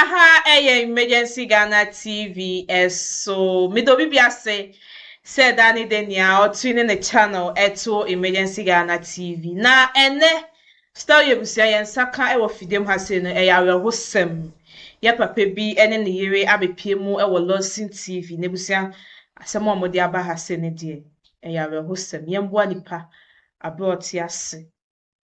Aha ɛyɛ Emergency Ghana TV ɛso meda obi bi ase sɛ ɛda ne dɛ nea ɔtwe ne ne channel ɛto Emergency Ghana TV. Na ɛnɛ Stawi abusua yɛn nsa ka ɛwɔ fidem ha sei no ɛyɛ awerɛhosɛm. Yɛ papa bi ɛne ne yere abɛpie mu ɛwɔ Lawson TV n'abusua asɛm a wɔde aba ha sei no deɛ ɛyɛ awerɛhosɛm. Yɛn boa nipa abrɛ ɔte ase.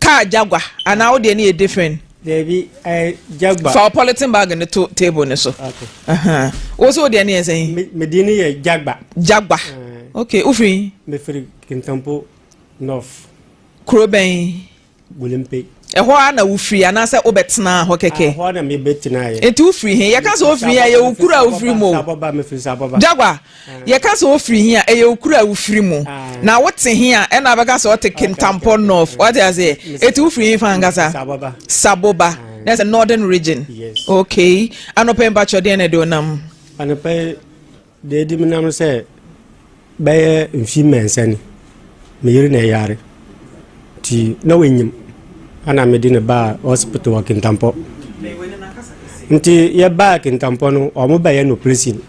Car Jaguar anaa wo deɛ no yɛ different. Dabi ɛɛ eh, Jaguar. Fa polythene bag no to table no so. Okay. Wo so wo deɛ no yɛ sɛn? Me deɛ no yɛ Jaguar. Jaguar. Eh. Okay, wofiri? Mefiri Kintampo North. Kuro bɛn? Bulimpe. ɛhɔ a na wofiri anaasɛ wobɛtena hɔ kɛkɛ ɛhɔ na mebɛtena yɛ nti wofiri he yɛka sɛ wofiri a yɛwo kuro a wofiri mu o jagua Yɛka sɛ wofiri he a, ɛyɛ okuro a wofiri mu. Na wote he a, ɛna bɛka sɛ ɔte Kintampo North. Wate aseɛ? Eti wofiri he fa ankasa? Saboba. Na ɛsɛ Northern Region. Okay. Anɔpa yi mpakyɛ deɛ na ɛde onam? Anɔpa yi deɛ ɛde menam no sɛ bɛyɛ mfi mmiɛnsa ni. Me yere na ɛyare. Nti na wanyim. Ana mede ne baa hospital wɔ Kintampo. Nti yɛbaa Kintampo no, wɔn bɛyɛ no operation.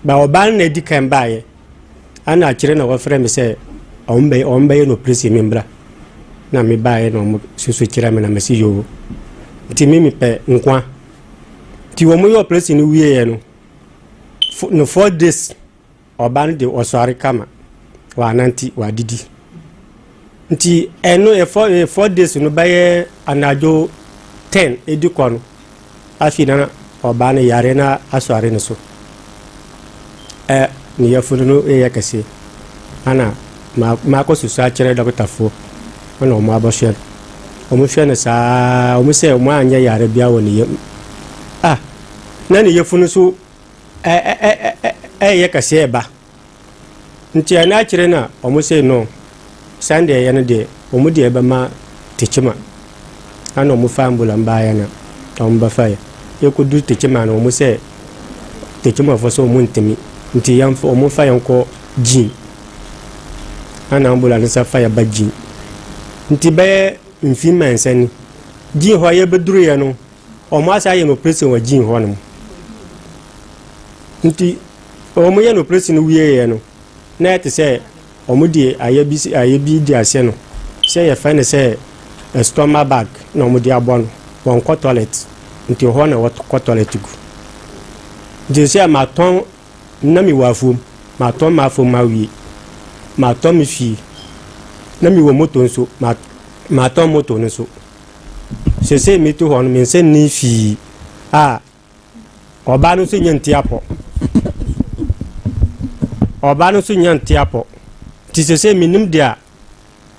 Ba ɔbaa no na edi kan baeɛ, ɛna akyire na wɔfrɛ me sɛ wɔn bɛyɛ wɔn bɛyɛ no operation me mbra. Na me baeɛ na wɔn susu kyerɛ me na mesi yoo. Nti me mepɛ nkwa. Nti wɔn yɛ operation no wieɛ no, fo no four days ɔbaa no de ɔsɔre kama, wanante, wadidi. Nti ɛno yɛ four yɛ four days no bɛyɛ anadwo ten edi kɔ no afei na ɔbaa no yare na asɔre ne so ɛ ne yafunu no yɛ kɛse ana ma maakɔ susu akyerɛ dɔktafoɔ ɛna wɔn abɔhwɛ no wɔn hwɛ no saa wɔn sɛ wɔn anyɛ yare bia wɔ ne yam ah na ne yafunu so ɛ ɛ ɛ ɛ ɛyɛ kɛse ɛba. Nti ɛna akyire na ɔmo sei no sɛndeɛ ɛyɛ no deɛ ɔmo deɛ bɛma Tekyima ɛna ɔmo faa Mbulam baeɛ na ɔmo bɛfaeɛ yɛkɔduru Tekyima no ɔmo sɛ Tekyimafo sɛ ɔmo ntimi nti yɛnfa ɔmo nfa yɛn nkɔ Gyin ɛna Mbulam no sɛ fa yɛ ba Gyin nti bɛyɛ mfii mɛnsa ni Gyin hɔ yɛbɛduruiɛ no Wɔn ase ayɛ no opresin wɔ Gyin hɔ nom. Nti wɔn yɛ no opresin no wie yɛ no, na ɛte sɛ wɔn de ayɛ bi ayɛ bi di aseɛ no sɛ yɛfɛ no sɛ ɛstɔma bag na wɔn de abɔ no. Wɔn kɔ tɔlɛt nti wɔ hɔ na wɔkɔ tɔlɛt gu. Nti sɛ ma tɔn na mi wɔ afuom ma tɔn ma afuom ma wie ma tɔn mi fie na mi wɔ moto nso ma ma tɔn moto no nso. Sesei metu hɔ no, me nsa nni fii a, ɔbaa no nso nya ntiapɔ. Ɔbaa no nso nya ntiapɔ. Nti sesei menim deɛ a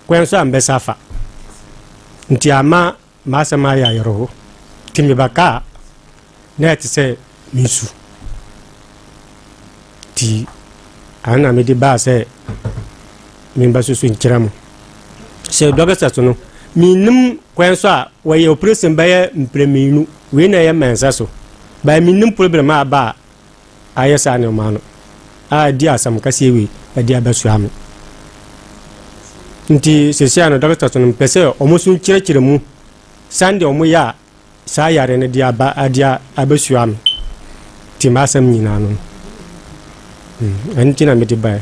kwan so a mbɛsa afa. Nti ama m'asɛm ayɛ ayerɛho. Nti mebɛkaa Na ɛte sɛ me su. Nti, ano na mede baa sɛ memba so so nkyerɛ mo. Sɛ dɔkita so no, mennim kwan so a wɔyɛ operation bɛyɛ mprɛmienu. Wei na ɛyɛ mmansa so. Baa mennim problem a aba a ayɛ saa nneɛma no a ɛde asɛm kaseɛ wei ɛde abɛsoa me. Nti, sɛsia no dɔkita so no, mpɛ sɛ wɔn so nkyerɛkyerɛ mu sɛdeɛ wɔyɛ a saa yare no de aba ade abɛsoa me te m'asɛm nyinaa no ɛno nti na mede baɛ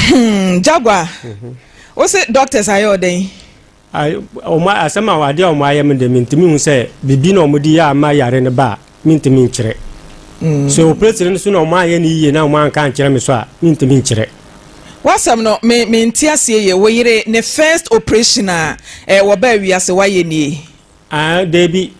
hmm, Jaguar mhm. wo se doctors ayɛ ɔdɛn asɛm a adeɛ a wɔayɛ me de mentumi hu sɛ biribi na wɔde yɛ ama yare no ba a Mentumi nkyerɛ. Sɛ opreesini no so na wɔanyɛ no yiye na wɔanka ankyerɛ me so a, mentumi nkyerɛ. W'asɛm no me mente aseɛ yie, wo yere ne first operation a eh wɔbaa wiase wayɛ nie? Ah dabi,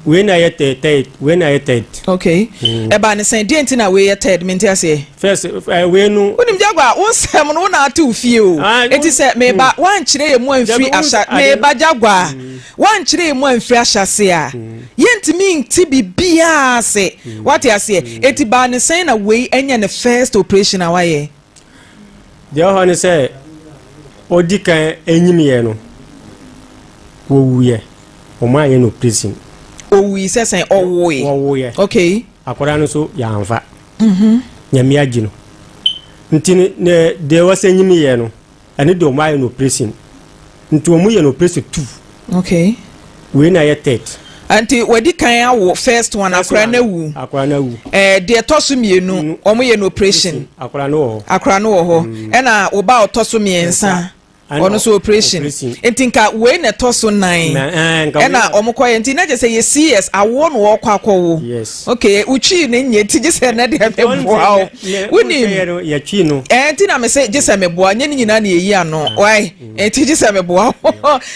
wei na ɛyɛ third, wei na ɛyɛ third. Okay, ɛbaa ne sɛn, deɛ nti na wei yɛ third, mente aseɛ. First, eh, wei no. Wonim Jaguar, wo nsɛm no wo na ate wo fie o. Ah, Enti sɛ meba, mm. woankyerɛ yɛ mu amfiri ahyɛ, meba Jaguar, mm. woankyerɛ yɛ mu amfiri ahyɛse a, mm. yɛntumi nti biribiaa ase. Wate aseɛ? Enti baa ne sɛn na wei ɛnyɛ ne first operation a wayɛ? Deɛ ɔhɔ ne sɛ, ɔdi kan ɛnyimiɛ no, wɔwuiɛ, ɔmo ayɛ no operation. Ɔwui sɛ sɛn? Ɔwoe. Ɔwoeɛ. Okay. Akwadaa no nso yɛamfa. Nyame agye no. Nti no ne deɛ wɔsɛ nyini yɛ no ɛno deɛ ɔmo ayɛ no operation nti ɔmo yɛ no operation two. Okay. Wei na yɛ third. Nti wadi kan awo first one akora no awu. Akora no awu. Ɛɛ eh, deɛ ɛtɔ so mmienu ɔmo yɛ no operation. Akora no wɔ hɔ. Akora no wɔ hɔ. Ɛna mm. wo ba ɔtɔ so mmiɛnsa. ɔno nso operation nti nka wei na ɛtɔ so nan eh, ɛna wɔn kɔ yɛ nti na gye sɛ yɛ cs awoɔ na wɔkɔ akɔwo ok wotwi ne nyɛ ti gye sɛ ɛnɛ deɛ meboa o wonim ɛɛ eh, nti na me sɛ gye sɛ meboa nyɛ ne nyinaa na yɛyi ano ah. wae eh, nti gye sɛ meboa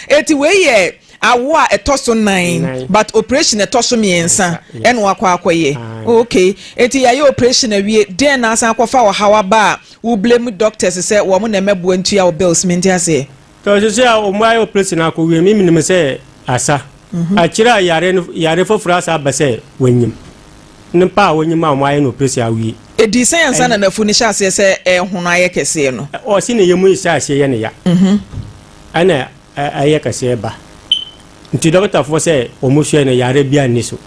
eti wei yɛ awo a ɛtɔ so nan but operation ɛtɔ so mmiɛnsa ɛna wakɔ akɔyɛ ah, ok eti yɛayɛ operation awie den na asan akɔfa ɔhaw aba a. Wo blame doctors sɛ wɔn na ɛmɛboa ntua wo bills mente aseɛ. Tɔ sese a wɔn ayɛ operation akɔ wiem yi menim sɛ asa. Akyire a yare no yare foforɔ asa aba sɛ wanyim. Nipa a wanyim a wɔn ayɛ no operation awie. Ɛdii sɛn ansa na nafu no hyɛ aseɛ sɛ ɛrehono ayɛ kɛseɛ no? Ɔse ne yɛmu rehyɛ aseɛ yɛ no ya. Ɛna ɛyɛ kɛseɛ ba. Nti dɔketafoɔ sɛ wɔn hwɛ no yare biara nni so.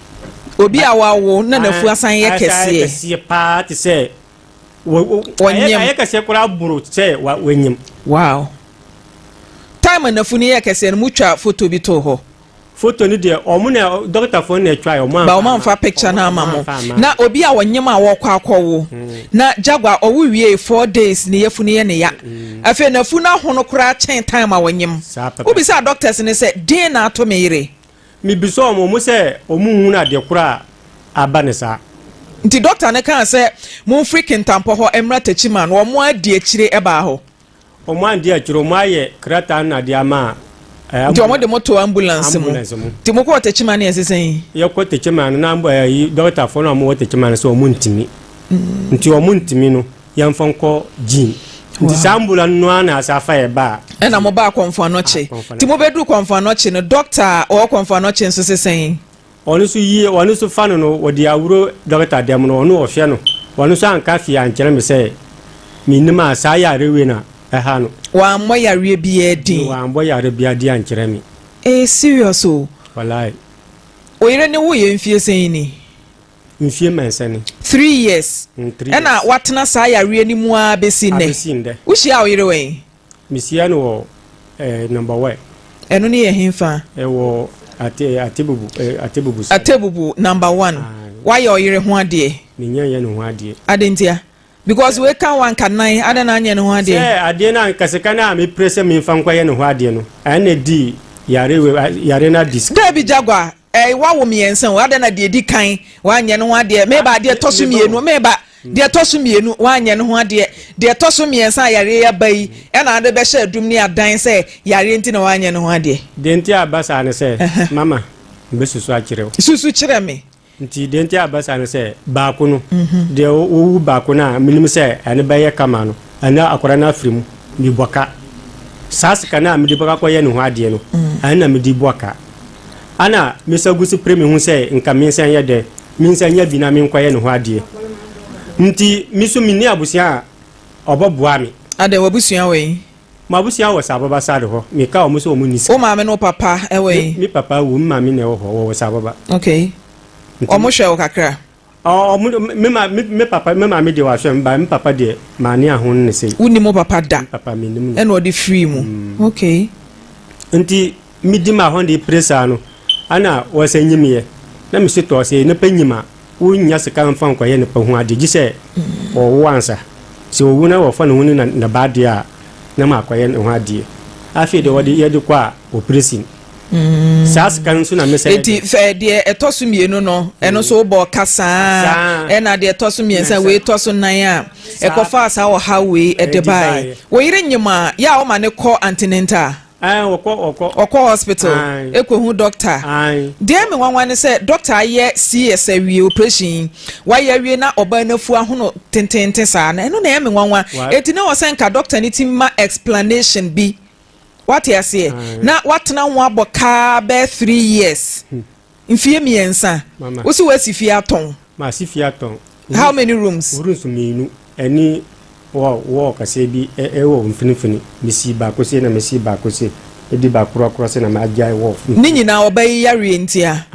Obi a wawo na nafu asan yɛ kɛseɛ. Asa ayɛ kɛseɛ paa te sɛ. ɔnyem ayɛ kɛseɛ koraa boro sɛ wanyem wow time anafo no yɛ kɛseɛ no motwa foto bi too hɔ foto no deɛ ɔmo na dɔktafoɔ na atwa ɔmo anfa ba ɔmo anfa picture no ama mo na obi a ɔnyem a wɔkɔ akɔwo na jagua ɔwo wie four days ne yɛfu no yɛ ne ya afei nafu no ahono koraa kyɛn time a ɔnyem wobisa doctors no sɛ den na ato me yere Mibisaa wɔn sɛ wɔnhunu adeɛ korɔ a aba no saa. Nti dɔkta no kaa sɛ, Momfiri Kintampɔ hɔ mmra Techiman. Wɔadi akyire baa hɔ. Wɔanndi akyire, wɔayɛ krataa no adeɛ ama ambulance. Nti wɔde mo too ambulance mu. Ambulance mu. Nti mokɔɔ Techiman no ɛnse sɛn? Yɛkɔ Techiman no, na dɔktafoɔ no a wɔwɔ Techiman no sɛ wɔntumi. Nti wɔntumi no. yɛmfa nkɔ gyin nti saa mbula no ara na asa afa yɛ ba a ɛna mo baa kɔnfo anɔkye ah, nti mobɛduru kɔnfo anɔkye no dɔkta a ɔwɔ kɔnfo anɔkye nso se sɛn ɔno nso yie ɔno nso fa no no wɔde awuro dɔkta dɛm no ɔno ɔhwɛ no ɔno nso anka fie ankyerɛ me sɛ menim a saa yare wei na ɛha no wammɔ yareɛ biaa din wammɔ yare biaa din ankyerɛ me ɛyɛ serious o walae oyere ne woyɛ mfie sɛn ni Mfie mmiɛnsa ni. Three years. Mm, three Ɛna years. watena saa yareɛ no mu ara bɛsi nnɛ. Abɛsi ndɛ. Wohyia wo yere wɛn? Mehyia no wɔ eh, number wɛ. Ɛno ne yɛ henfa? Ɛwɔ ate, atebubu, eh, atebubu side. Atebubu number one. Aye. Wayɛ ɔyere ho adeɛ? Menya yɛ ne ho adeɛ. Ade ntia? Because weka wa nka nan, adɛn na anyɛ ne ho adeɛ? Sɛ adeɛ no anka sika no a mepere sɛ memfa nkɔyɛ ne ho adeɛ no, ɛna di yare, yare no adi sika. Daabi Jaguar, Ɛɛ, woawo mmiɛnsa o, adɛn na deɛ ɛdi kan woanyɛ no ho adeɛ? Meba, deɛ ɛtɔ so mmienu, meba, deɛ ɛtɔ so mmienu, woanyɛ no ho adeɛ. Deɛ ɛtɔ so mmiɛnsa a yareɛ yi aba yi, ɛna wode bɛhyɛ adum ne adan sɛ yareɛ nti na woanyɛ no ho adeɛ. Deɛ nti a ɛba saa ne sɛ, mama, mebɛsusu akyerɛ wo. Susu kyerɛ me. Nti deɛ nti a ɛba saa ne sɛ, baako no, deɛ ɔwu baako no a menim sɛ ɛno bɛyɛ kama no, ɛno akwadaa no afiri mu, mebɔ ka. Saa sika no a mede bɛkɔ akɔyɛ ne ho adeɛ no, ɛno na mede bɔ ka. Ana mesa gu so pere me ho sɛ nka me nsa nyɛ dɛ, me nsa nya bi na menkɔyɛ ne ho adeɛ? Nti me so menni abusua a ɔbɛboa me. Adɛn, w'abusua wɔ he? M'abusua wɔ Saababa side hɔ. Meka wɔn sɛ wɔn nni sika. Wo maame ne wo papa wɔ he? Me papa awu, me maame na ɛwɔ hɔ, wɔwɔ Saababa. Okay. Nti. Wɔhwɛ wo kakra? Me papa, me maame deɛ wahwɛ me, but me papa deɛ mane aho no ne sei. Wonim wo papa da? Me papa menim no. Ɛna ɔde firii mu? Mm. Okay. Nti medi ma hɔ de pere saa no, ana wɔsɛ nyimyɛ. Na mesi tɔɔ sɛ nipa nyim a, wonnya sika mfa nkɔyɛ nipa ho adeɛ, gye sɛ mm. ɔwo ansa. Sɛ owu na wɔfa ne ho ne ne ba adeɛ a, na makɔyɛ ne ho adeɛ. Afei deɛ wɔde yɛde kɔ a, operation. Mm. saa sika no nso na mesɛ eti fɛ deɛ ɛtɔ so mmienu no ɛno nso wobɔ ɔka saa ɛna deɛ ɛtɔ so mmiɛnsa wei tɔ so nan a ɛkɔfa saa ɔha wei ɛde bae wo yere nyim a yɛ a woma ne kɔ antinenta ɔkɔ hospital ɛkɔhu dɔkta deɛ me nwanwa ne sɛ dɔkta ayɛ cs awie operation wayɛ awie na ɔbaa no afu ahono tententen saa na ɛno na ɛyɛ me nwanwa ɛti ne wɔ sɛ nka dɔkta no ti ma explanation bi wate aseɛ na watena ho abɔ kaa bɛɛ three years mfie mmiɛnsa wosi wasi fie atɔn maasi fie atɔn how many rooms rooms mmienu ɛne wɔ wɔ kaseɛ bi ɛwɔ mfinimfini mesi baako se na mesi baako se ɛdi baakorɔkorɔ se na magyae wɔ ne nyinaa ɔba yi yareɛ ntia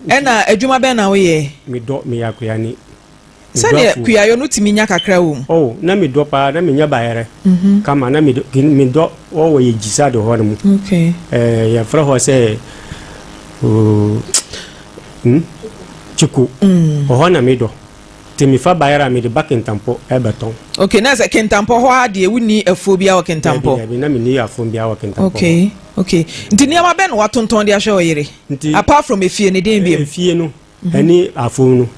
ɛna adwuma bɛn na woyɛ medɔ meyɛ akoyani Sɛdeɛ Medɔfoɔ. kuayɔ no tumi nya kakra wɔ mu. Oh na me dɔ paa na me nya bayɛrɛ kama na me dɔ me dɔ wɔ wɔ yɛ gyisa de hɔ no mu Okay. eh, yɛ frɛ hɔ sɛ oh, mm, kyiko wɔ hɔ na me dɔ te me fa bayɛrɛ a me de ba kentampɔ ɛbɛ tɔn Okay na sɛ kentampɔ hɔ ara deɛ wonni afuo biara wɔ dabi kentampɔ. dabi na me nni afuom biara wɔ kentampɔ hɔ Okay okay nti nneɛma bɛn na watontɔn de ahwɛ ɔyere Nti apart from efie no den biom. efie no ɛne afuo no.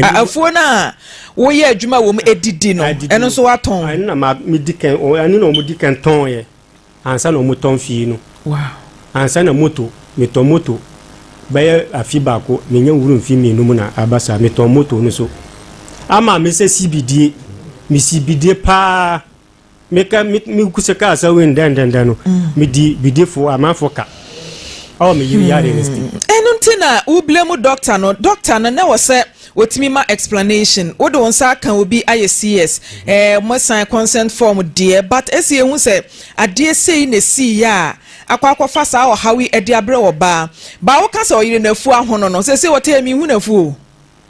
afuo no a woyɛ adwuma wɔ mu edidi no ɛno nso watɔn. ɛno na ma mi di kan ɛno na wɔn di kan tɔn yɛ ansa na wɔn tɔn fie no. ansa na moto mi tɔn moto bɛyɛ afi baako mi nya wuru nfi mmienu mu na aba saa mi tɔn moto no so ama mi sɛ si bidie mi si bidie paa. Meka me me kusa kaa sɛ wei ndɛndɛndɛn no medi bidifo amanfo ka ɛwɔ me yere yare no si. ɛno nti na wo blame doctor no doctor no na ɛwɔ sɛ ɔtumi ma explanation wode wo nsa aka obi ayɛ CS ɛɛ mo sign consent form deɛ but ɛsɛ yɛhu sɛ adeɛ sei na ɛsii yɛ a akɔ akɔfa saa ɔhaw yi ɛde abrɛ ɔbaa baa woka sɛ ɔyere no afu ahono no sɛsɛ ɔtɛ yɛ menhu no afu o.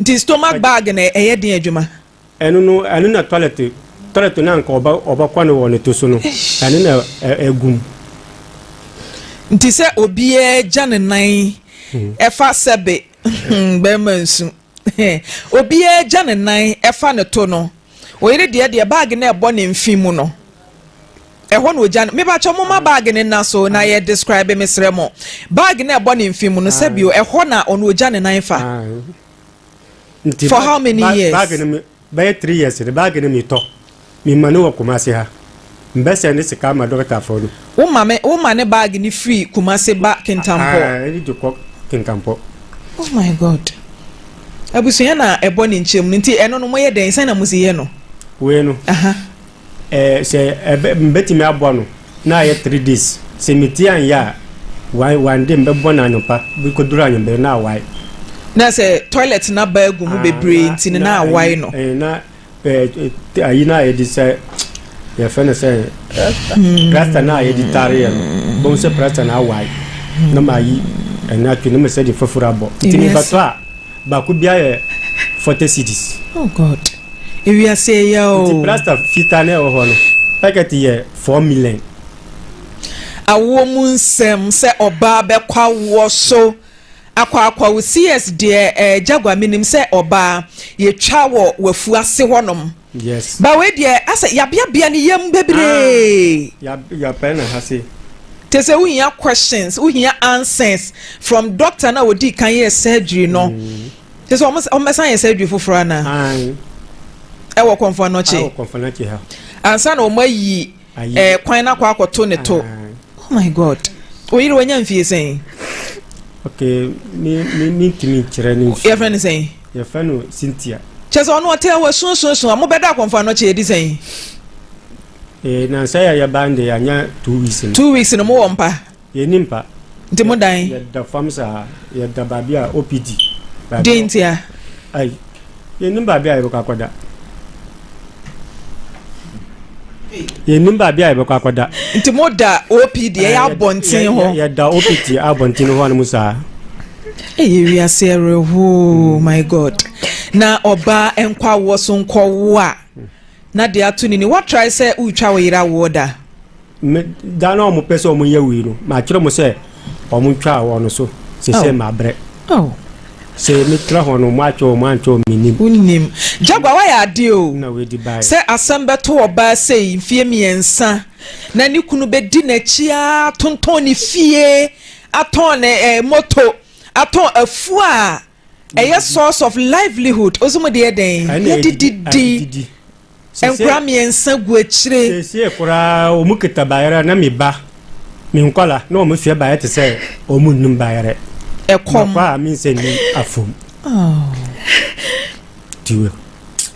Nti stomach bag na ɛyɛ den adwuma. Ɛno no ɛno na toilet toilet na nka ɔbɛ ɔbɛkɔ no wɔ ne to so no ɛno na ɛgum. Nti sɛ obiara gya ne nan ɛfa sɛbe hmm bɛrima nsu obiara gya ne nan ɛfa ne to no oyere deɛ deɛ bag na ɛbɔ ne mfe mu no. Ɛhɔ na ogya no. Mepakyɛw momma bag no nna so na yɛ describe mesrɛ mo. Bag no a ɛbɔ ne mfe mu no sɛbi o, ɛhɔ na ɔno ogya ne nan fa. Nti For how many bag years? bag no me bɛyɛ three years no bag no metɔ mema no wɔ Kumasi ha mbɛ sɛnde sika ama dɔkita fɔ no. Wo ma me wo ma ne bag no firi Kumasi ba Kintampɔ. Aah ɛde de kɔ Kintampɔ. Oh my God. Abusua na ɛbɔ ne nkyɛn mu no nti ɛno no mo yɛ dɛn sɛn na mo si yɛ no? Wei no. Aha. Ɛɛ sɛ ɛbɛ mbɛtumi aboa no na ayɛ three days sɛ metie anyɛ a wan wan de mbɛbɔ no anɔpa bi kɔduru anwummerɛ na awae. Na sɛ toilet no aba agu mu Ah na bebree nti no na na ayi awae no. ɛɛ na ɛɛ t ayi no a yɛde sɛ yɛfrɛ no sɛ Rasta. plasta no a yɛde tareɛ no bɛhu sɛ plasta no awae na mayi ɛno ato na masɛ de foforo abɔ nti Ewiase. mebɛtɔ a baako biara yɛ forty cedis. Oh God. Ewiase yɛ ya oo. Nti plaster fitaa na ɛwɔ hɔ no packet yɛ four million. Awoɔ mu nsɛm sɛ ɔbaa bɛkɔ awoɔ so akɔ akɔwo CS deɛ eh Jaguar menim sɛ ɔbaa yɛtwa wɔ wafu ase hɔ nom Yes. ba wei deɛ asɛ yabeabea ne yam bebree Ah ya ya pɛn na ha se. Tesɛ wohia questions wohia answers from doctor no a ɔdii kan yɛɛ surgery no Mm. Kyerɛ sɛ wɔn wɔn bɛsan yɛ surgery foforɔ ana? Ayi. Ɛwɔ kɔnfɔnɔkye. Ɛwɔ kɔnfɔnɔkye ha. Ansa na wɔn ayi ɛɛ eh, kwan na akɔ akɔto ne to. Ayi. Oh my God. Oyiri wanya nfie sɛn? Okay, me me me ntumi nkyerɛ ne nfie. Yɛfrɛ ne sɛn? Yɛfrɛ no Cynthia. Kyerɛ sɛ ɔno ɔtɛ wɔ sunsunsun a mobɛda akɔnfɔnɔkye edi sɛn? Ee, eh, nansa yɛ yɛba nde anya two weeks no. Two weeks no mowɔ mpa. Yɛnni mpa. Nti mo dan. Yɛda fam saa. Yɛda baabi a obi di. Deɛ nti a. Ai, yɛnnim baabi a yɛbɛkɔ akɔda. Yɛnnim baabi a yɛbɛkɔ akɔda. Nti mo da OP deɛ yɛ abɔnten hɔ. Yɛda OP deɛ abɔnten hɔ nom saa. Ɛyɛ wiase ɛrehoo, my God. Na ɔbaa nkɔ awoɔ so nkɔwo a, na de ato ne ni. Woatrae sɛ woretwa wo yere awoɔ da? Me, da na wɔn pɛ sɛ wɔn yɛ wei no, matwerɛ mo sɛ wɔn ntwa wɔn so, sɛ sɛ mabrɛ. Sɛ metra hɔ no, mo atwe wɔn antwe wɔn menim. Wonim. Jagua wayɛ adeɛ o. Sɛ asɛm bɛto ɔbaa sei mfeɛ mmiɛnsa na ne kunu bɛdi n'akyi ara atontɔn ne fie, atɔn ne ɛɛ moto, atɔn afuo a Ɛyɛ source of livelihood. Ose mo de yɛ dɛn? Yɛ de didi. Nkora mmiɛnsa gu akyire. Sesie koraa wɔn kita bayerɛ na me ba, me nkwala na wɔn sua bayerɛ te sɛ wɔn nnim bayerɛ. Ɛkɔm. Makɔ a me nsɛ ni afom. Oh. Tiwe.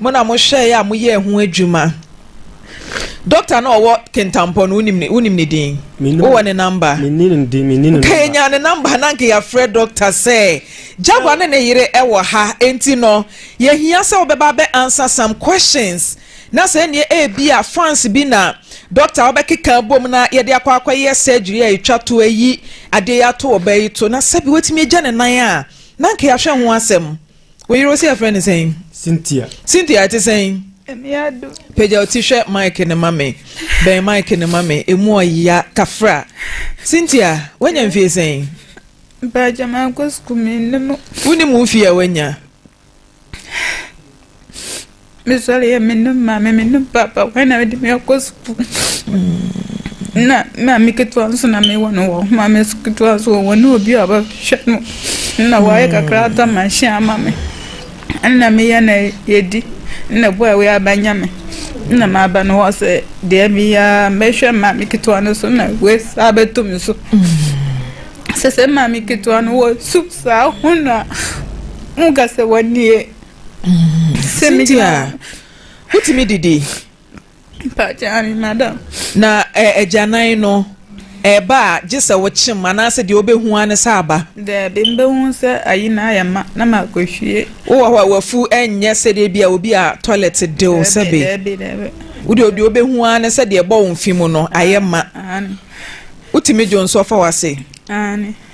Mo na mohwɛeɛ a moyɛɛ ho adwuma. Doctor no a ɔwɔ Kintampo no, wonim ne, wonim ne din? Menim. Wowɔ ne number? Menni ne din, menni ne Nka number. yɛnya ne number na nka yɛafrɛ doctor sɛ Java ne ne yere wɔ ha, enti no yɛhia sɛ wobɛba abɛ answer some questions na sɛ ɛnneɛ ebi a fans bi na doctor wobɛkeka abom na yɛde akɔ akɔyɛ surgery a ɛtwa to ayi adeɛ yi ato ɔbaa yi to na sɛbi watumi agya ne nan a na nka yɛahwɛ ho asɛm. Wo yere ose yɛfrɛ no sɛn? Cynthia. Cynthia ɛte sɛn? Emiado. Pagya ɔti hwɛ mic no ma me. Bɛn mic no ma me. Emu ɔya kafra. Cynthia, wanya mfie sɛn? Mpagya mankɔ sukuu mennim. Wonim wo mfie a wanya? Mesɔre yɛ me ne maame me ne papa wɔn na mede me akɔ sukuu na maame ketewa nso na mewɔ no wɔ homa me so ketewa nso wɔ ne obi a ɔbɛhwɛ no na wɔayɛ kakra ata manhyɛ ama me ɛna meyɛ na yɛdi na boa a wɔyɛ abanya me na maaba no hɔ sɛ deɛ meyɛ mɛhwɛ maame ketewa no so na wei saa bɛto me so sɛ sɛ maame ketewa no wɔ su saa ho na mo ka sɛ wɔnie Cynthia, wotumi didi? Na agyanan eh, no ɛba a gye sɛ wokyem anaasɛ deɛ wobɛhu a ne sɛ aba daabi mbɛhu sɛ ayi na ayɛ ma na makɔhwie wowɔ hɔ a wafu ɛnyɛ sɛdeɛ bi a obi a toilet dew sɛbe wode obi wobɛhu a ne sɛ deɛ ɛbɔ wo mfe mu no ayɛ ma wotumi dwo nso ɔfa wase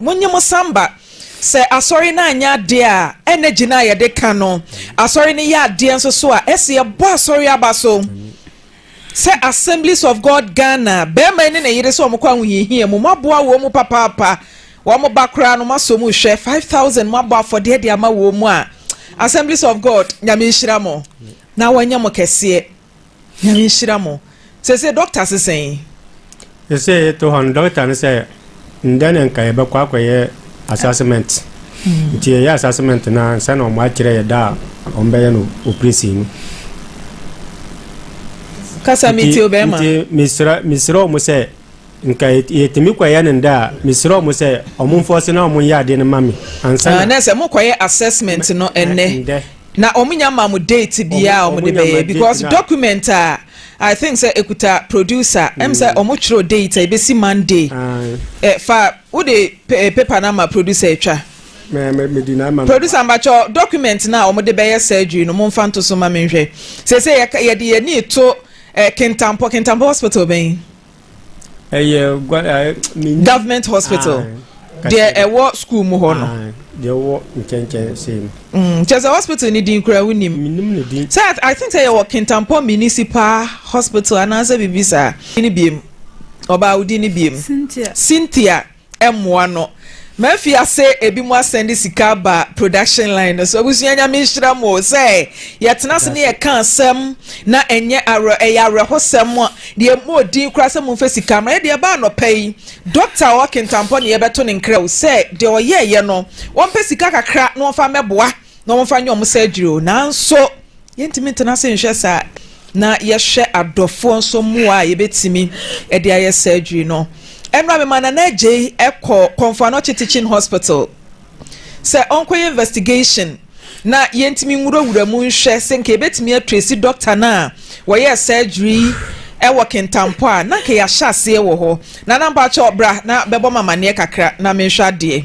Monye mo san ba. Sɛ Asɔre no anyɛ adeɛ a, ɛnna gyina a yɛde ka no. Asɔre no yɛ adeɛ nso so a, ɛse yɛbɔ Asɔre aba so. Sɛ Assemblies of God Ghana, barima yi ne ne yere sɛ wɔkɔ ahohiahia mu, moaboa wɔn mu papaapa. Wɔn ba koraa no, moasɔ mu hwɛ. Five thousand, moabɔ afɔdeɛ de ama wɔn mu a, Assemblies of God, Nyame nhyira mo na wɔnyɛ mo kɛseɛ. Nyame nhyira mo. Sese doctor se sɛn? Sese yɛte hɔ no doctor no sɛ ndɛ na nka yɛbɛkɔ akɔyɛ assessment. Hmm. Nti yɛyɛ assessment no ansa na wɔn akyerɛ yɛ da a wɔn bɛyɛ no operation no. Kasa mi ti o bɛrima. Nti mesrɛ mesrɛ wɔn sɛ nka yɛtumi kɔyɛ no ndɛ a mesrɛ wɔn sɛ wɔn mfɔse na wɔn yɛ adeɛ no ma me ansa na. Ah, na sɛ mo kɔyɛ assessment no ɛnɛ. Na ɔmo nya ma mo date biaa a ɔmo de bɛyɛ because document a I think sɛ ekuta producer ɛm sɛ ɔmo twerɛ date a ebesi Monday ɛ fa wo de paper no ama producer etwa producer mbakyɛ document no a ɔmo de bɛyɛ surgery no mo nfa nto so ma me nhwɛ sese yɛ yɛde yɛ ni to ɛ kentampɔ kentampɔ hospital bɛn. ɛyɛ gua ɛɛ mini. government hospital ah, deɛ ɛwɔ school mu hɔ no. Ah, deɛ ɛwɔ nkyɛnkyɛn sɛm. Mm, kyɛ sɛ hospital ni din kura wo nim. minim ne din. sɛ i think sɛ yɛwɔ kintampɔ municipal hospital anaasɛ biribi saa. ne biem ɔbaa wo din ne biem. cynthia. cynthia. mmoa no mafi ase ebinom asan de sika aba production line no so abusua nyame nhyira mo sɛ yɛtena ase ne yɛka asɛm na ɛnyɛ awerɛ ɛyɛ awerɛhosɛm deɛ mmɔ odin koraa sɛ momfa sika ma yɛde ɛba anɔpa yi dɔkta a ɔwɔ kentampɔ ne yɛbɛto ne nkrɛw sɛ deɛ ɔyɛɛyɛ no wɔmpɛ sika kakra na wɔmfa mɛboa na wɔmfa nyɛ wɔn surgery o, nanso yɛntumi ntena ase nhwɛ saa na yɛhwɛ adɔfoɔ nso mmoa a yɛbɛtumi de ayɛ surgery no. Ɛnora mema Nana Agyei kɔ Kɔmfo Anɔkye Teaching Hospital sɛ ɔnkɔyɛ investigation na yɛntumi nwurawura mu nhwɛ sɛ nka yɛbɛtumi atresi dɔkta no a wɔyɛɛ surgery wɔ Kintampo a na nka yɛahyɛ aseɛ wɔ hɔ. Nana mpakyɛ bra na bɛbɔ ma amanneɛ kakra na menhwɛ adeɛ.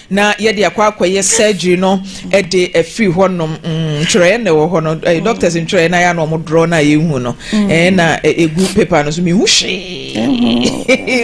na yɛde akɔ akɔyɛ surgery no de afiri hɔnom mm, ntwerɛeɛ na ɛwɔ hɔ no eh, doctors ntwerɛeɛ na yɛ na ɔmo dorɔ na yɛhu no mm. eh, na ɛgu eh, paper no so mehu hwee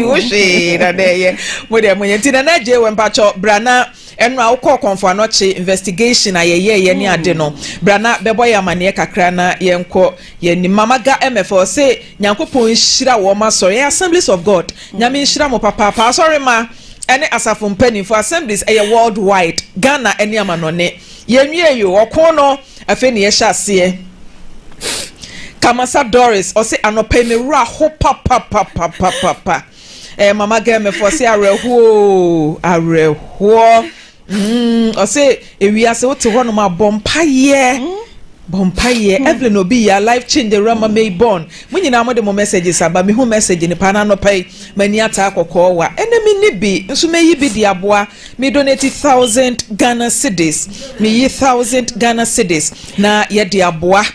hu hwee na na ɛyɛ mo deɛ moyɛ nti nana gye wɔ mpakyɛ bra na ɛno a wokɔɔ kɔnfo anɔkye investigation a yɛyɛɛyɛ ne ade no mm. bra na bɛbɔ yɛ amanneɛ kakra na yɛnkɔ yɛnim mamaga mɛfɛ ɔse Nyankopɔn nhyira wɔn asɔre ɛyɛ Assemblies of God Nyame nhyira mo papaapa asɔre ma ɛne asafo mpaninfoɔ Assemblies ɛyɛ world wide Ghana ɛne amanɔne yɛ nwie yoo ɔko no afei na yɛhyɛ aseɛ Kamasa Doris ɔse anɔpa yi me wura ho papapapapapa ɛɛ mama gɛmɛfoɔ se awerɛhoɔ oo awerɛhoɔ. Mm, ɔsɛ ewia sɛ wote hɔ nom a bɔ mpaeɛ. Mm. Bɔ mpaeɛ. Mm. Evelyn obi yɛ life change the rama may born. Mo nyinaa mo de mo messages aba mehu message ne paa n'anɔpa yi m'ani ataa kɔkɔɔ wa ɛnɛ me ni bi nso mɛyi bi de aboa me donate thousand Ghana cedis meyi thousand Ghana cedis na yɛde aboa.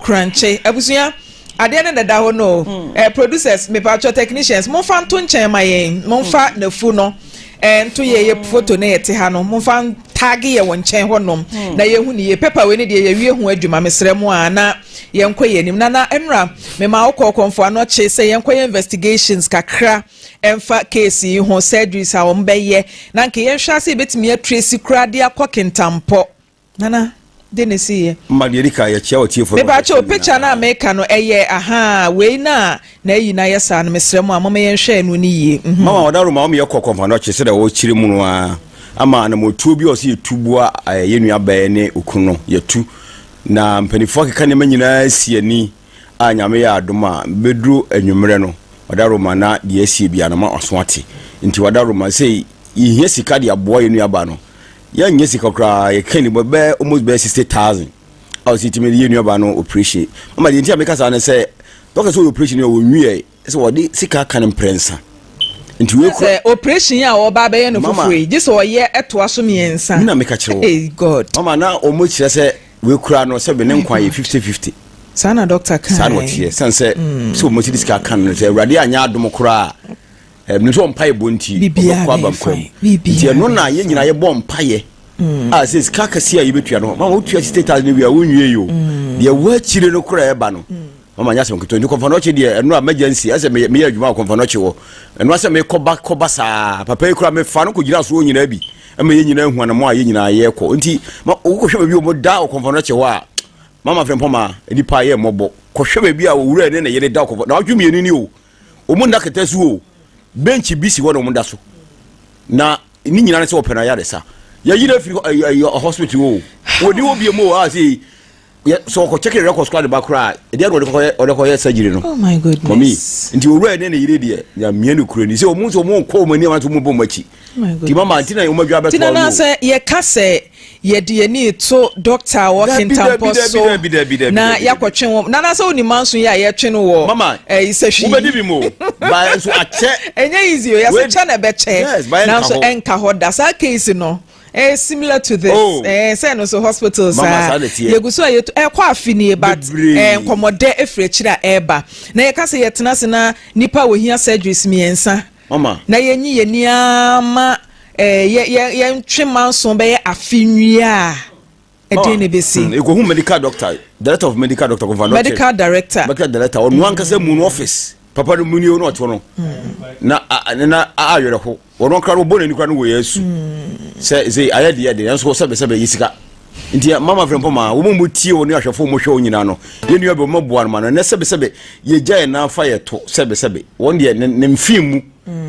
Kurankye abusua adeɛ no deda hɔ no o eh, producers mepatwɔ technicians momfa nto nkyɛn ma yɛn momfa hmm. nafu no eh, nto yɛ yɛ hmm. foto ne yɛte ha no momfa ntaage yɛ wɔ nkyɛn hɔ nom hmm. na yɛhu ne yie pepa wei ne deɛ yɛwie ho adwuma mesrɛ mu a na yɛnkɔ yɛ anim na na ɛnora mema wo kɔɔkɔmfo ano kye sɛ yɛnkɔ yɛ investigations kakra ɛmfa case yi ho surgeries a wɔn bɛyɛ na nka yɛnhwɛ ase yɛbɛtumi atresi kura de akɔ kentampɔ Nana, de ne si yɛ. Ma deɛ edi kan yɛ kyea ɔtiefo no. Mepaakyɛw o, picture no a meka no ɛyɛ ahaa wei na na ayi na ayɛ saa no mesrɛ mo a moma yɛn hwɛ ɛno no yie mhm. Mama ɔda roma ɔmeyɛ kɔ kɔmpa no ɔkye sɛdɛ ɔkyerɛ mu no aa ama anamɔtuo bi a ɔsɛ yɛtu boa yɛnua bɛɛ ne okunu no yɛtu na mpanifoɔ akeka nneɛma nyinaa si ani. a Nyame yɛ adom a bɛduru anwummerɛ no Wadaroma na deɛ asie biara no ma ɔso ate nti Wadaroma sei yɛhia sika de aboa yɛ nua baa no yɛnyɛ sika koraa yɛka ni bɔ bɛɛ almost bɛɛ 60,000 a ɔsi timi yɛ nua baa no operation mama deɛ nti a meka saa ne sɛ dɔkɛ sɛ ɔyɛ operation yɛ ɔnwiɛ sɛ wɔde sika ka no mprɛnsa. Nti wei kura. Sɛ operation a ɔba abɛyɛ no foforɔ yi, gye sɛ ɔyɛ ɛtoa so mmiɛnsa. Mina meka kyerɛ wɔ. Hey God. Mama na wɔn kyerɛ sɛ wei kura no sɛ ne nkwa yɛ fifty fifty. Saa na dɔkta kan. Saa na ɔteɛ sɛn sɛ mm. sɛ wɔn ti de sika kan no sɛ awurade anya adom koraa ɛnu sɛ ɔmpa yɛ bɔ nti ɔbɛkɔ abam kwan mu nti ɛno na yɛn nyinaa yɛbɔ mpa yɛ mm. a ah, sɛ sika kɛseɛ a yɛbɛtua no ma wɔtua sixty thousand wia wɔnwie yi o mm. deɛ wɔakyire no koraa ɛba no mama nyɛ asɛm ketewa nti kɔmfanɔkye deɛ ɛno a mɛgya nsi ɛsɛ meyɛ meyɛ adwuma wɔ kɔmfanɔkye hɔ ɛno asɛ mekɔba kɔba saa papa yi kora mefa no kɔgyina soɔ nyinaa bi ɛma yɛ nyinaa hu anamɔ a yɛ nyinaa yɛkɔ nti wokɔhwɛ baabi ɔmo da wɔ kɔmfanɔkye hɔ a mama frɛmpɔ ma nipa yɛ mmɔbɔ kɔhwɛ baabi a owura ne ne yere da kɔmfa na ɔtwe mmienu ni o ɔmo nna kɛtɛ so o bench bi si hɔ na ɔmo da so na ne nyinaa ne sɛ ɔpɛ na yɛ adesa yɛyi no afiri hospital o wɔni wɔ bie mu o a sɛ yɛ sɛ ɔkɔ check records koraa de ba koraa ɛdeɛ na ɔde kɔkɔyɛ ɔde kɔyɛ surgery no oh my goodness mami nti owura ne ne yere deɛ nyamea ne kura ni sɛ ɔmo nso ɔmo nkɔ ɔmo ani ɔmo bɔ ɔmo akyi oh ti mama nti na ɔmo adwa bɛtɔ ɔmo tina na sɛ yɛka sɛ yɛde yɛn ni to dɔkta wɔ kentampɔ so na yakɔtwe wɔn nana sɛ wɔn nima nso yɛ a yɛtwe no wɔ mama ɛyi eh, sɛ hwi wobɛdi bi mu ba nso akyɛ ɛnyɛ easy o yɛsɛ kyɛ na ɛbɛkyɛ nanso ɛnka hɔ da saa case no. ɛyɛ eh, similar to this oh. eh, sɛ no so hospital saa ah. yɛgu so a yɛtu ɛkɔ eh, afi nie but eh, nkɔmmɔdɛ ɛfiri akyiri a ɛreba na yɛka sɛ yɛtena se na nipa a wɔhia surgeries mmiɛnsa na yɛnyi yɛni ama eh, yɛntwe manso bɛyɛ afe nwie a ɛdeɛ na ɛbɛsi ɛkɔhu medical doctor director of medical doctor kɔfa no medical director medical director ɔno mm. ankasa mu no office papa no mu ni ɔno ɔto no mm. na na ayerɛ ho ɔno kora no ɔbɔ n'ani kora no wɔ yɛ asu mm. sɛ sɛ ayɛ deɛ deɛ nanso sɛbɛsɛbɛ yɛ sika nti mama frɛ mpɔ ma wɔn mu tie wɔn ahwɛfo wɔn hwɛ wɔn nyinaa no yɛn nua bɛ wɔn boa no ma no ɛnɛ sɛbɛsɛbɛ yɛgya yɛn nan fa yɛ to sɛbɛsɛbɛ wɔn deɛ ne mfin mu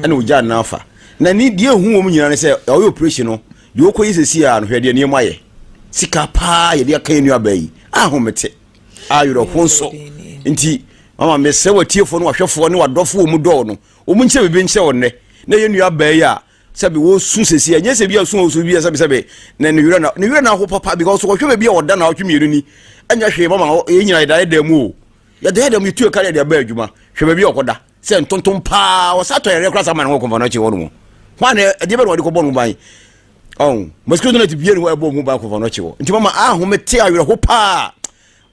ɛna ɔgya nan fa na ne deɛ ehu wɔn nyinaa ne sɛ ɔyɛ operation no Deɛ ɔkɔ yi sɛsi a no hwɛ deɛ nneɛma yɛ sika paa yɛde aka yɛ nuabaa yi ahomete ayerɛho nso nti mama mesrɛ watiefoɔ no wahwɛfoɔ ne wadɔfoɔ ɔmu dɔɔ no ɔmu nkyɛ biribi nkyɛ ɔnnɛ na yɛ nuabaa yi a sɛbi wɔsu sɛsi ɛnyɛ sɛ bi a su ɔsu bi a sɛbi sɛbi na ne werɛ na ne werɛ na aho papa because wɔhwɛ baabi a ɔda na ɔtwe mmienu ni ɛnyɛ hwee mama yɛ nyina yɛda yɛda mu o yɛda yɛda mu yɛtu ɛka yɛde aba adwuma hwɛ baabi a ɔkɔda sɛ ntontom paa ɔsa tɔ yɛrɛ kora sa ma ne ho kɔmfa no akyi hɔ no mu hɔ a na ɛdeɛ bɛ na ɔde kɔbɔ no ban ɔn mosquito net bie ne hɔ ɛbɔ mu ban kɔmfa no akyi hɔ nti mama ahome te awerɛho paa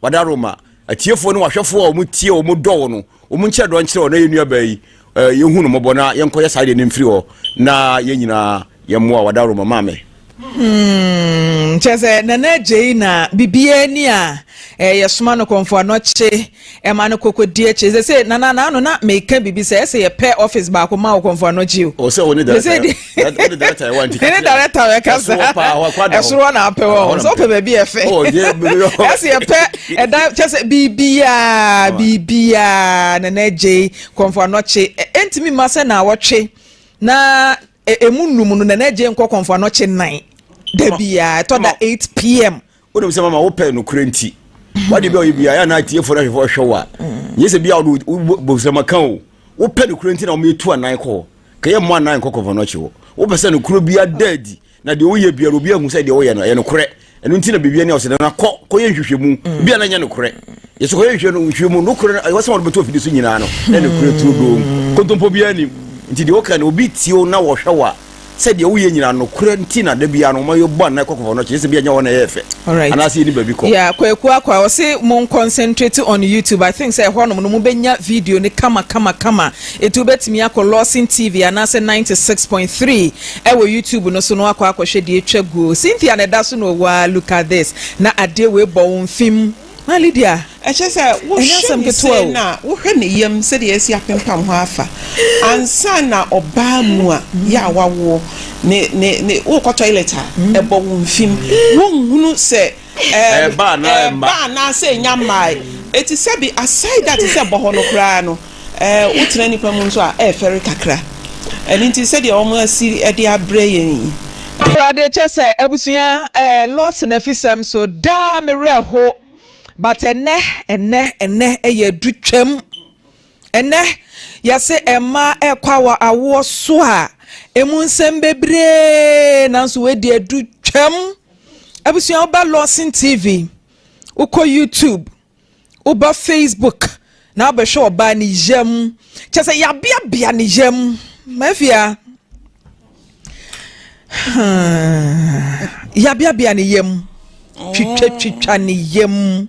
wada roma atiefoɔ ne wahwɛfoɔ a wɔn tie wɔn dɔ wɔ no wɔn nkyerɛ dɔ nkyerɛ wɔ na yɛn nuabaa yi yɛhu no mmɔbɔ na yɛnkɔyɛ saa deɛ no mfiri hɔ na yɛn nyinaa yɛmmoa wada roma maame Hmm, kyerɛ sɛ nana gyei na biribiara ni a eh, yɛsoma no kɔmfo anɔkye ɛma no kɔkɔdi akyi sɛ sɛ nana naano na meka biribi sɛ ɛsɛ yɛpɛ office baako ma wo kɔmfo anɔkye o ɔsɛ wo ne director ne director bɛka sa ɛsoro hɔ na apɛ wɔ sɛ wopɛ baabi ɛfɛ ɛsɛ yɛpɛ ɛda kyɛ sɛ biribiara biribiara nana gyei kɔmfo anɔkye ɛntumi ma sɛ na wɔtwe na Ɛ emu nnum no Nana Gyei nkɔ kɔmfo anɔkye nnan da biara, ɛtɔ da 8 pm. Wonim sɛ mama wopɛ nokorɛ nti wade bi a ɔyɛ bia yɛ anaa atiefoɔ no ahwɛfoɔ hwɛ wo a nyɛ sɛ bia wode bobsɛma ka o wopɛ nokorɛ nti na wɔmɛtu anan kɔ hɔ ka yɛ mmɔ anan nkɔ kɔmfo anɔkye hɔ wopɛ sɛ nokorɛ bia da adi na deɛ woyɛ bia no obi ahu sɛ deɛ woyɛ no ɛyɛ nokorɛ ɛno nti na biribi ani ɔsɛ na kɔ kɔyɛ nhwehwɛmu mm. bi a na nyɛ nokorɛ yɛsɛ kɔyɛ nhwehwɛ no nhwehwɛ mu nokorɛ no ɛwɔ sɛ wɔde bɛto afidi so nyinaa no na nokorɛ turo doo mm. kontompo biara nim nti deɛ woka no obi tio na wɔhwɛ wo a sɛ deɛ woyɛ nyinaa nokorɛ nti na da biara no ɔmayɛ bɔ anaa kɔkɔfɔ no kyerɛ sɛ bia nyɛ hɔ na ɛyɛ fɛ anaasɛ yɛni baabi kɔ yeah, kwaku akwa ɔse mon concentrate on youtube i think sɛ ɛhɔnom no mobɛnya video no kama kama kama ɛti wobɛtumi akɔ lawson tv anaasɛ 96.3 Ɛwɔ YouTube no so no akɔ akɔhwɛ deɛ atwa guo Cynthia na ɛda so na ɔwɔ aa look at this na adeɛ wei bɔ wo mfe mu maa Lydia ɛkyerɛ sɛ ɛnyɛ asɛm ketewa o. na wohwɛ ne yam sɛdeɛ asi apempam hɔ afa ansa na ɔbaa mu a yɛ a wawoɔ ne ne ne wokɔ toilet a ɛbɔ wo mfe mu wonhunu sɛ Ɛɛba anaa ɛmma? Ɛɛba anaasɛ ɛnya mmae. Ɛti sɛ bi aside that te sɛ bɔhɔ no koraa no, ɛɛ wo tena nipa mu nso a ɛɛfɛre kakra. Ɛno nti sɛdeɛ wɔn asi de abrɛ yɛn yi. Awurade kyɛ sɛ abusua ɛɛ loss na fi sɛm so daa me werɛ ho but ɛnɛ ɛnɛ ɛnɛ ɛyɛ adu twam ɛnɛ yɛse ɛmma ɛɛkɔ awɔ awoɔ so a ɛmu nsɛm bebree nanso wei deɛ adu twam. abusua wo ba lawson tv wokɔ youtube woba facebook na wobɛhwɛ ɔbaa ne yam kyɛ sɛ yɛabeabea ne yam mafia hmm. yɛabeabea ne yam twitwatwitwa ne yam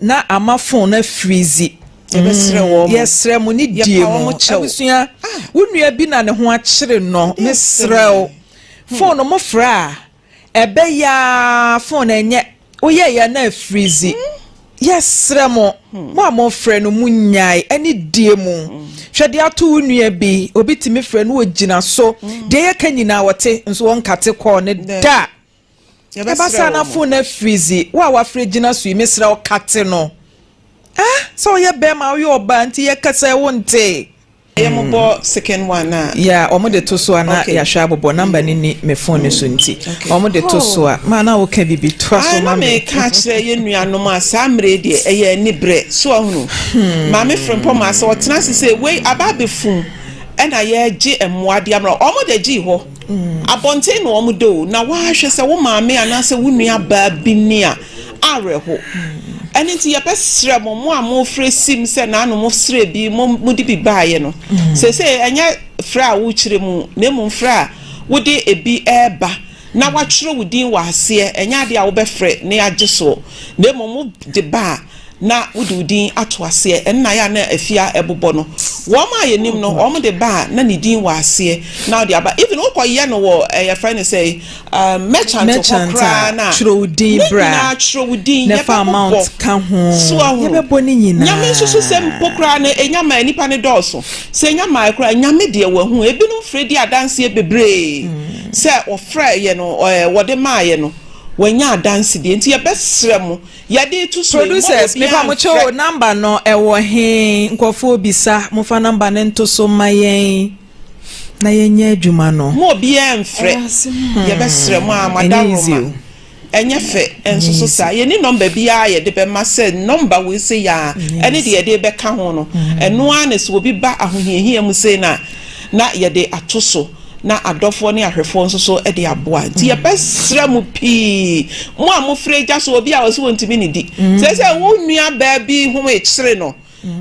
Na ama fon no afiri dzi. Yɛbɛsrɛ wɔn mo. Yɛsrɛ mo ne die mo. Yɛpa wɔn mo kyɛw. Abusua, wo nua bi na ne ho akyere no, mesrɛ wo, fon no mo frɛ a, ɛbɛyɛ ara fon no ɛnyɛ, woyɛɛe a na afiri dzi. Yɛsrɛ mo, mo a mofrɛ no, mo nyae, ɛne die mo. Hwɛ deɛ ato wo nua bi, obi tumi frɛ no, ogyina so, deɛ yɛka nyinaa ɔte, nso ɔnkate kɔɔl no da. Yɛbɛsrɛ wɔ mo. Ɛba saa na afon no afiri dze wo a wafrɛ gyina so yi mesrɛ wo kate no ah sɛ woyɛ bɛɛma a woyɛ ɔbaa nti yɛ kasa yi wo ntee. Yɛ mo bɔ second one a. Yeah wɔn de to so a na yahwɛ abobɔ number no ni me phone no so nti wɔn de to so a ma na woka bibi toa so ma me. Ae na meka akyerɛ yɛ nua nom a saa mmerɛ yi deɛ ɛyɛ ani brɛ so wahunu maame frempɔ maa sɛ ɔtena ase sɛ wei aba abɛfum ɛna yɛgye mmoa de ama wɔn wɔn de gye hɔ. Abɔnten na wɔda o, na woahwɛ sɛ wo maame anaasɛ wo nua baa bi ni a, awerɛho. Ɛno nti yɛbɛsrɛ mo, mo a mofrɛ sim sɛ naano mosrɛ bi, mo mode bi baeɛ no, seesei ɛnyɛ frɛ a wokyerɛ mu, na mmom frɛ a wode ebi reba na woatwerɛ wo din wɔ aseɛ, ɛnyɛ adeɛ a wobɛfrɛ na yɛagye soɔ, na mmom wode ba a. na wode wo din ato aseɛ, ɛno na ayɛ a na afie a ɛbobɔ no, wɔn a yɛnim no, wɔn de ba a na ne din wɔ aseɛ na wode aba, even wokɔyɛ no wɔ ɛɛ yɛfrɛ no sɛ um, merchant hɔ merchant a koraa no a, twerɛ wo din ne bra nyinaa twerɛ wo din, na fa yɛbɛbobɔ amount ka ho so ahu. yɛbɛbɔ ne Nyame nso so sɛ mpo nyinaa koraa no ɛnya maa nnipa no dɔɔso, sɛ ɛnya maae koraa a, Nyame deɛ wahu, ebinom frɛ di adanseɛ bebree sɛ wɔfrɛeɛ no, ɛɛ wɔde maaeɛ no, wɔanya adanse deɛ nti yɛbɛsrɛ mo, Yɛde reto so yi, mma Producers, obiara mepa mo kyɛw o, nhwɛ. number no ɛwɔ he? Nkurɔfoɔ bisa, mofa number no nto so mma yɛn na yɛnyɛ adwuma no. Mma obiara mfrɛ. Ɛyɛ ase hmm. Yɛbɛsrɛ mo a, Ɛnyɛ easy madaworo ma. o. Ɛnyɛ fɛ Ɛnyɛ nso so easy. saa. Yɛnni number biara a yɛde bɛma sɛ number wei sei a, Ɛnyɛ ɛne deɛ easy. yɛde rebɛka ho no, ɛno ara na sɛ obi ba ahohiahia mu sei no a, na yɛde ato so na adɔfoɔ ne ahwɛfoɔ nso so de aboa nti yɛbɛsrɛ mo pii mo a mofrɛ agya so obi a ɔsi wɔntumi ne di sɛ sɛ wo nua baa bi ho ekyere no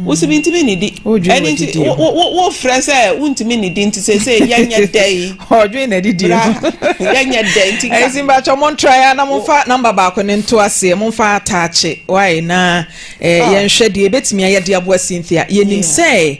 wosi mi ntumi ne di ɛne nti wofrɛ sɛ wontumi ne di nti sɛ sɛ yɛnyɛ dɛ yi ɔdwen na didi no yɛnyɛ dɛ nti ka ɛsi mbatwɛ mo ntra ya na momfa namba baako ne nto aseɛ momfa ataakye wae na yɛnhwɛ deɛ ebetumi ayɛ de aboa Cynthia yɛnim sɛ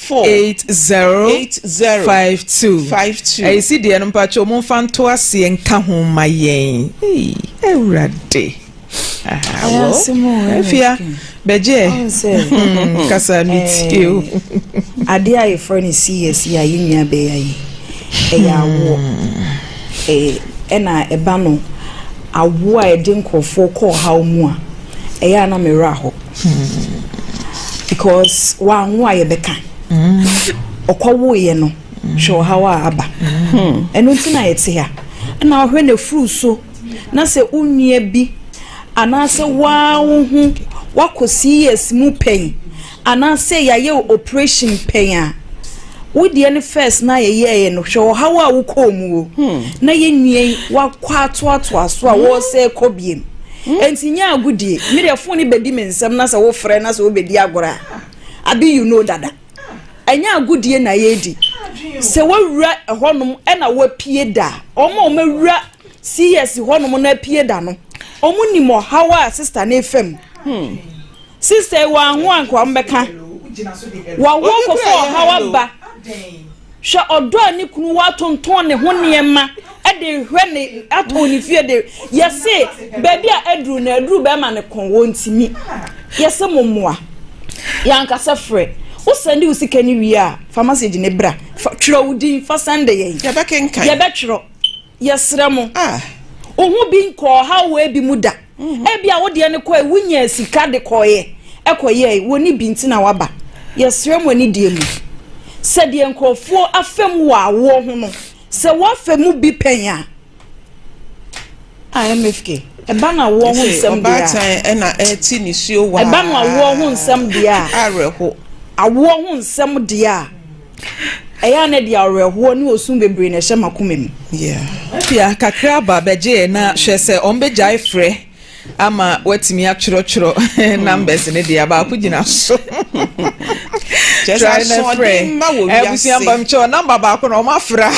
four eight zero eight zero five two five two. Ɛyi si deɛ no mpatsɔ mo nfa nto aseɛ nka ho ma yɛn. Eyi awurade. Awo efia bɛgye ɛ kasa mi tie o. Adeɛ a yɛfrɛ no CS yi a yɛn nua bɛyɛ yi ɛyɛ awoɔ ɛna ɛba no awoɔ a ɛde nkorɔfoɔ kɔ ɔhaw mu a ɛyɛ a na me werɛ ahɔ. because wanwo a yɛbɛka ɔkɔwoeɛ no hwɛ ɔhaw a aba ɛno nti na yɛte ha na ɔhwɛ na furu so na sɛ wo nua bi anaasɛ waa wo ho wakɔ cs mu pɛn anaasɛ yɛayɛ wo operation pɛn a wo deɛ no first na yɛyɛɛ no hwɛ ɔhaw a wokɔɔ mu o na yɛn nua yi wakɔ atoatoa so a wɔresɛ kɔ biem Enti nyɛ agodie. Me deɛ fon no bɛdi me nsam na sɛ wofrɛ na sɛ wobɛdi agorɔ a abi you know dada. Ɛnyɛ agodie na yɛredi. Sɛ wawura ɛhɔnom ɛna wapie da a, wɔn a wɔawura CS hɔnom na apie da no, wɔn nim ɔhaw a sista no refa mu. Hmm. Sista yi wɔanwo anka wɔn bɛka. Wɔawo kɔfa ɔhaw aba. Hwɛ ɔdɔ a ne kunu wɔ atontɔn ne ho nneɛma de rehwɛ ne atɔn ne fie de yɛse baabi a aduru no aduru bɛrima ne kɔn wɔ ntumi yɛse mo mmoa yɛankasa frɛ wosɛnde wo sika ne wie a fa message ne bra twerɛ wo din fa sɛnde yɛn yɛbɛkenkan yɛbɛtwerɛ yɛsrɛ mo ah. ohu bi nkɔɔ hawwee bi mu da. Ebia wo deɛ no kɔe, wonyaa sika de kɔeɛ, ɛkɔyɛe, wɔnni bi nti na waba. Yɛsrɛ mo anidie mu sɛ deɛ nkurɔfoɔ afa mu wɔ awoɔ ho no, sɛ woafa mu bi pɛn a, a MFK, ɛba no awoɔ ho nsɛm deɛ a. Ɔbaatan ɛna ɛte nisuo waa. Ɛba no awoɔ ho nsɛm deɛ a. Awerɛho. Awoɔ ho nsɛm deɛ a. Ɛyɛ a na ɛde awerɛhoɔ ne osu bebree na ɛhyɛ m'akoma mu. Pia, kakra aba bɛgyeɛ na hwɛ sɛ wɔbɛgyae frɛ ama watumi atwerɛtwerɛ numbers no deɛ baako gyina so. Try na frɛ. Abusua mbamkyɛw namba baako na wɔafra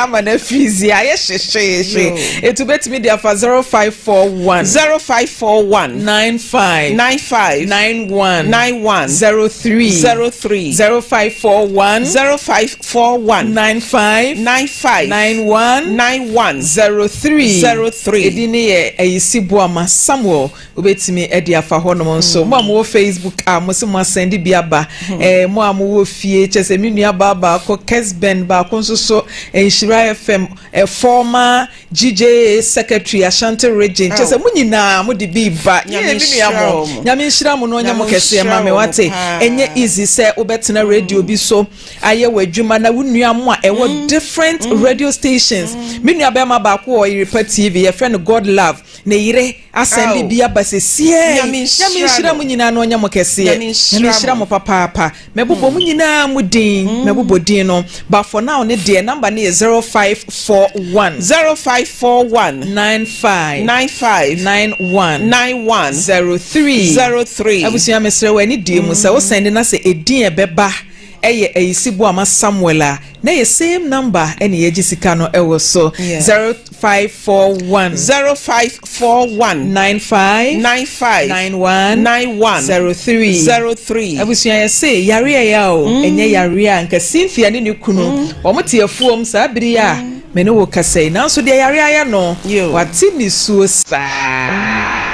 ama na freeze ayɛ hyehyehye. Etu betumi de afa 0541 0541 95 95 9 one nine one zero three zero three zero five four one zero five four one nine five nine five nine one nine one zero three zero three. Edi ne yɛ Ayisi Boama Samuel wobɛtumi de afa hɔnom nso. Mo a mowɔ Facebook a mo se mo asɛnde bi aba. Eh, mo a mowɔ fie kyɛ sɛ me nua baa baako Kesben baako nso so Nhyira FM eh, former Gyigyee secretary Ashanti region kyerɛ sɛ mo nyinaa mo de bi reba yie me nua mo Nyame nhyira mo na ɔnyɛ mo kɛseɛ ma me wate ɛnyɛ easy sɛ wo bɛ tena radio bi so ayɛ wo adwuma na wo nua mo a ɛwɔ different radio stations me nua bɛɛma baako wɔ Yerepa TV yɛfrɛ no God love ne yere Asɛm bi bi aba sesiei. Nyame nhyira mo nyinaa na ɔnyɛ mo kɛseɛ. Nyame nhyira mo papaapa. Mɛbobɔ mo nyinaa mo din. Mɛbobɔ din no. But for now ne deɛ number no yɛ zero five four one. Zero five four one. Nine five. Nine five. Nine one. Nine one. Zero three. Zero three. Abusua mesrɛ wɔ ani die mu sɛ wo sɛnde na sɛ edin ɛbɛba ɛyɛ ayisi boama Samuel a na yɛ same number ɛna yɛgye sika no ɛwɔ so zero. five four one zero five four one nine five nine five nine one nine one zero three zero three. abusua yɛ se yare a ya o mm. ɛnyɛ yare a nka cynthia ne ne kunu mm. wɔn te afuom saa bere a mm. me ne wo kasa yi nanso deɛ yare ayɛ no wate ne suo saa.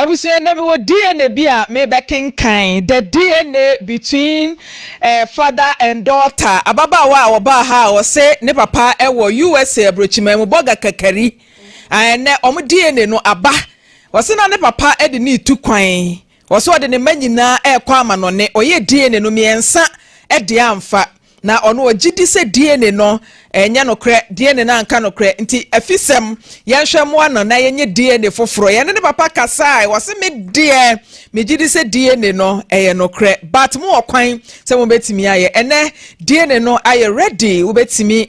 Abusua, na mewɔ DNA bi a merebɛkenkan, the DNA between eh, father and daughter, ababaawa a ɔbaa ha a ɔse ne papa wɔ USA aburokyiman mu, Boga Kakari. Ah ɛnɛ wɔn DNA no aba. Ɔse na ne papa de no retu kwan. Ɔse ɔde ne mma nyinaa rekɔ amanɔne. Ɔyɛɛ DNA no mmiɛnsa de amfa. Na ɔno ɔgye di sɛ DNA no nyɛ nokorɛ. DNA no anka nokorɛ. Nti afisɛm, yɛnhwɛ mmoa no na yɛnyɛ DNA foforɔ. Yɛne ne papa kasae. Ɔse me deɛ, megye di sɛ DNA no yɛ nokorɛ. But mowɔ kwan sɛ mobɛtumi ayɛ. Ɛnɛ DNA no ayɛ ready. Wobɛtumi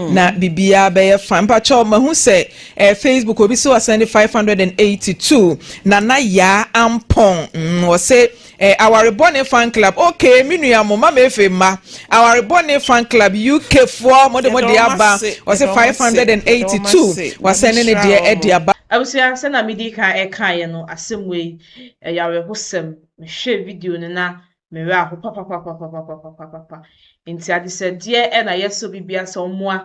na biribiara bɛyɛ fine mpakyɛw mahu sɛ ɛɛ facebook obi sɛ ɔsɛn de five hundred and eighty two nana yaa ampɔn mm, ɔsɛ ɛɛ awarebɔ ne fan club okay me nua mo mama efe mma awarebɔ ne fan club uk foɔ mo de mo de aba ɔsɛ five hundred and eighty two wasɛn ne ne deɛ ɛde aba. Abusua sɛ na medi kan ɛkaeɛ no asɛm wei ɛyɛ awerɛhosɛm mehwɛɛ video no na me werɛ aho papapapapapapapapa. Nti adesrɛdeɛ ɛna yɛsrɛ obi bia sɛ ɔmoa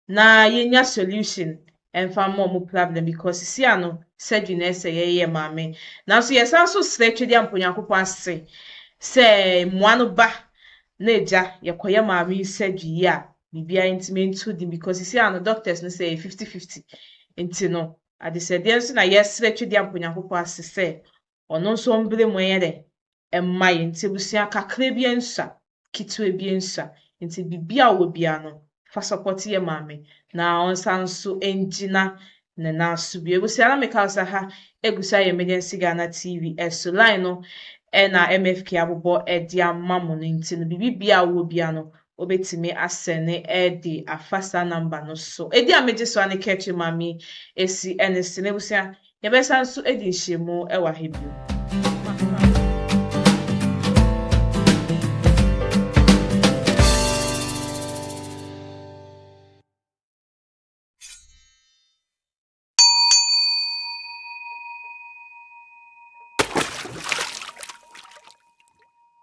na yɛnya solution ɛmfa mma ɔmo problem because sisi ano surgery na ɛsɛ yɛyɛ ma me. Nanso yɛsan nso srɛ Twediampo Nyankopɔn ase sɛ mmoa no ba na agya yɛkɔyɛ maame yi surgery yi a biribiara nti mentu din because sisi ano doctors no sɛ ɛyɛ fifty fifty nti no adesrɛdeɛ nso na yɛsrɛ Twediampo Nyankopɔn ase sɛ Ɔno nso mbre mu yɛ dɛn? Mma yɛ nti abusua kakra bia nsua, ketewa bia nsua. Nti biribi a ɔwɔ bia no fa support yɛ maame na ɔnsan nso ngyina ne nan so bio. Abusua na meka sɛ ha egu so ayɛ Emergency Ghana TV so line no na MFK abobɔ de ama mo no nti no biribi bia a ɔwɔ bia no wobɛtumi asɛne ɛɛdi afa saa number no so. Ɛdi a megye so a ne Ketty Mami ɛsi ɛne se. M'abusua, yɛbɛsan nso adi nhyiamu ɛwɔ ha bio.